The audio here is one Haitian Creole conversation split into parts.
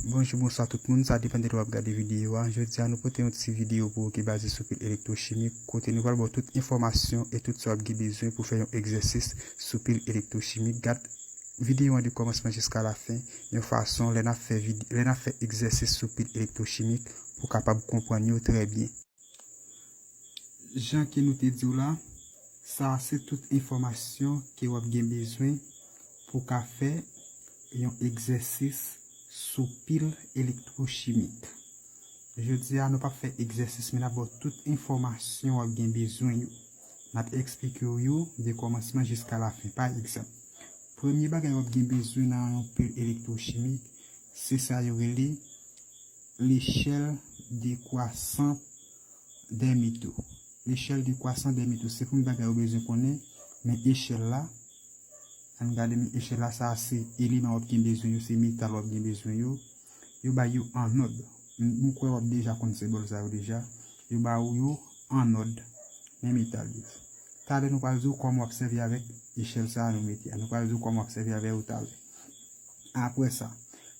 Bonjou bonswa tout moun sa depan de lè wap gade videyo a jodi a nou pote yon ti videyo pou ou ki baze sou pil elektrochimik kote nou pral ba w tout enfòmasyon e tout sa wap gen bezwen pou fè yon egzèsis sou pil elektrochimik gad videyo an de kòmansman jiska la fen yon fason lè nap fè egzèsis sou pil elektrochimik pou kapab konprann yo trè byen. Jan ke nou te diw la, sa a se tout enfòmasyon ke wap gen bezwen pou ka fè yon egzèsis sou pil elektwochimik. Jodi a nou pap fè egzèsis men nap baw tout enfòmasyon wap gen bezwen yo. Nap eksplikew yo de kòmansman jiska lafen. Pa egzanp, premye bagay wap gen bezwen nan yon pil elektwochimik se sa yo rele. Lechèl dekwasan dè mito. Lechèl dekwasan dè mito. Se konbyen bagay ou bezwen konnen men echèl la. Ann gade men echèl la. Sa a se eleman w ap gen bezwen yo. Se metal w ap gen bezwen yo. Yo bay yo ann òd. M kwè w ap deja konn senbòl sa yo deja. Yo ba ou yo ann òd. Men metal yo. Talè nou pral di w kòman w ap sèvi avèk echèl sa a nou mete a. Nou pral di w kòman w ap sèvi avè yo talè. Apre sa,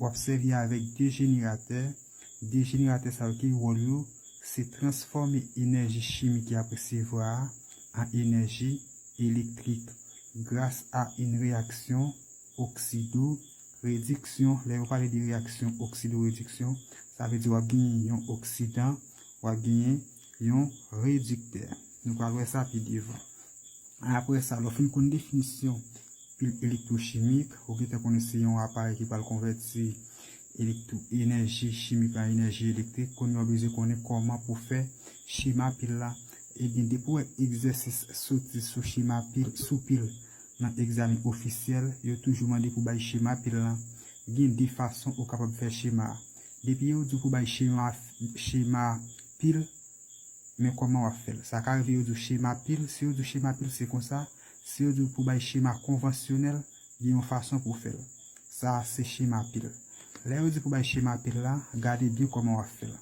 Wap sèvi avèk 2 jeneratè, 2 jeneratè sa yo ki wòl yo, se transfòme enèji chimik yap resevwa a an enèji elektrik gras a yn reyaksyon oksido rediksyon, lè yo pale de reyaksyon oksido rediksyon sa vle di wap genyen yon oksidan, wap genyen yon rediktè. Nou pral wè sa pi devan. Apre sa, lè w fin konn definisyon pil elektwochimik, ou gentan konnen se yon aparèy ki pral konvèti enèji chimik la an enèji elektrik. Kounye a ou bezwen konnen kòman pou w fè chema pil la. Ebyen, depi w wè egzèsis soti sou chema pil, sou pil nan egzamen ofisyèl, yo toujou mande pou w bay chema pil la. Gen de fason ou kapab fè chema a. Depi yo di w pou w bay chema pil men kòman wap fèl sa ka rive yo diw chema pil si yo diw chema pil se konsa si yo diw pou bay chema konvansyonèl gen yon fason pou fèl sa se chema pil lè yo di pou bay chema pil la gade byen kòman wap fèl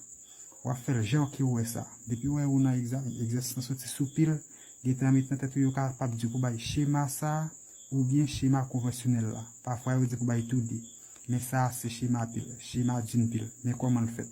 wap fèl jan kew wè sa depiw wè ou nan egzamen egzèsis lan soti sou pil gen tan met nan tèt ou yo ka pap diw pou bay chema sa oubyen chema konvansyonèl la pafwa yo di pou bay tou 2 men sa se chema pil chema dun pil men kòmanl fèt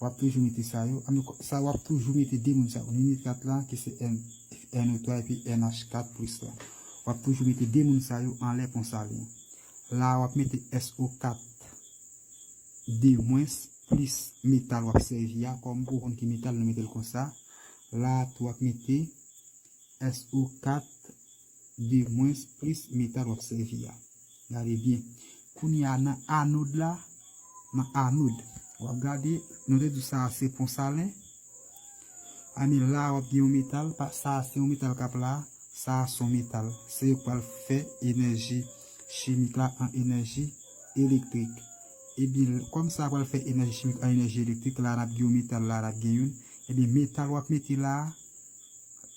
wap toujou mete sa yo an ok sa wap toujou mete de moun sa yo nini 4 la ki se NO 3 epi NH 4 plis la wap toujou mete de moun sa yo anlè konsa li la wap mete SO 4 de mwens plis metal wap sèvi a kòm pou konn ki metal nou metel konsa la tou wap mete SO 4. de mwens plis metal w ap sèvi a. Gade byen. Kounye a nan anod la, nan anod, w ap gade, nou te di sa a se pon salen, a men la a w ap gen yon metal, sa a se yon metal k ap la a, sa a se yon metal. Se yo k pral fè enèji chimik la an enèji elektrik. Ebyen, kòm sa a pral fè enèji chimik an enèji elektrik, la a n ap gen yon metal, la a n ap gen youn, ebyen metal w ap mete la a,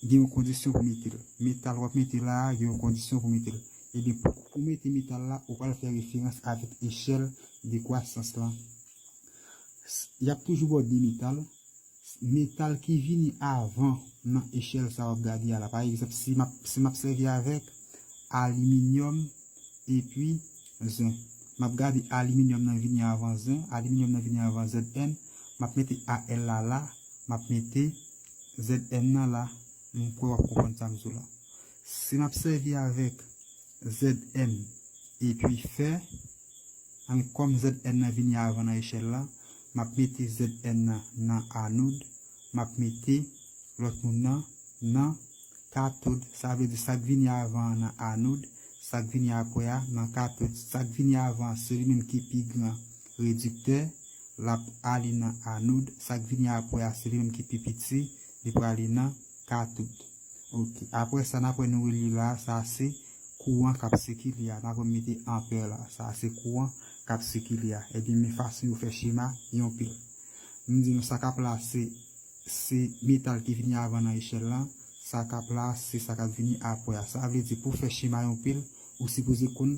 gen yon kondisyon pou mete l. Metal w ap mete la a gen yon kondisyon pou mete l. Ebyen, pou ou mete metal la, ou pral fè referans avèk echèl dekwasans lan. Y ap toujou ba w de metal. Metal ki vini avan nan echèl sa a w ap gade a la. Pa egzanp, si m ap sèvi avèk aliminyòm epi zen, m ap gade aliminyòm nan vini avan zen, aliminyòm nan vini avan Zn, m ap mete Al la la, m ap mete ZM nan la, m kwè wap konprann sa m di w la. Si nap sèvi avèk ZM epi fè, an kòm ZN nan vini avan nan echèl la, map mete ZN nan nan anod, map mete lòt moun nan nan katod, sa vle di sak vini avan an nan anod, sak vini apre a nan katod, sak vini avan an se li menm ki pi gran Rediktè, L ap ale nan anoud, sa k vini apre a se li menm ki pi piti, li prale nan katoud. Ok. Apre sa, dapre nou relye la a, sa a se kouran k ap sikile a. Dapre m mete anpè la a, sa a se kouran k ap sikile a. Ebyen, men fason yo fè chema yon pil. M di nou sa k ap la a se se metal ki vini avan nan echèl la, sa k ap la a se sa k ap vini apre a. Sa vle di pou w fè chema yon pil, ou sipoze konn.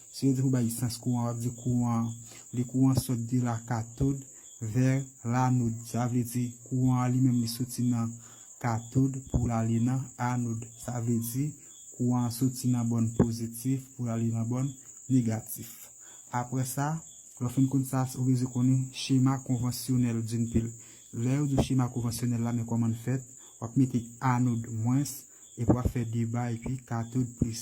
Si yo di pou bay sans kouran wap di kouran li kouran sot de la katod ver la nod sa vle di kouran an li menm li soti nan katod pou l ale nan anod sa vle di kouran an soti nan bòn pozitif pou l ale nan bòn negatif aprè sa lè w fin konn sa ou bezwen konnen chema konvansyonèl din pil lè yo di w chema konvansyonèl la men kòman l fèt wap mete anod mwens epi wap fè 2 ba epi katod plis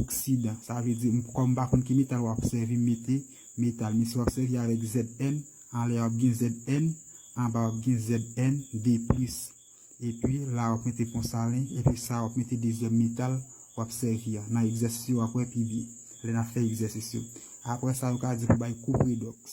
oksidan sa vle di kòm m pa konn ki metal w ap sèvi m mete metal men si w ap sèvi avèk Zn anlè w ap gen Zn anba w ap gen Zn deplis epi la w ap mete pon salen epi sa w ap mete dezyèm metal w ap sèvi a nan egzèsis yo w ap wè pi byen lè n ap fè egzèsis yo apre sa yo ka di pou bay kou predòks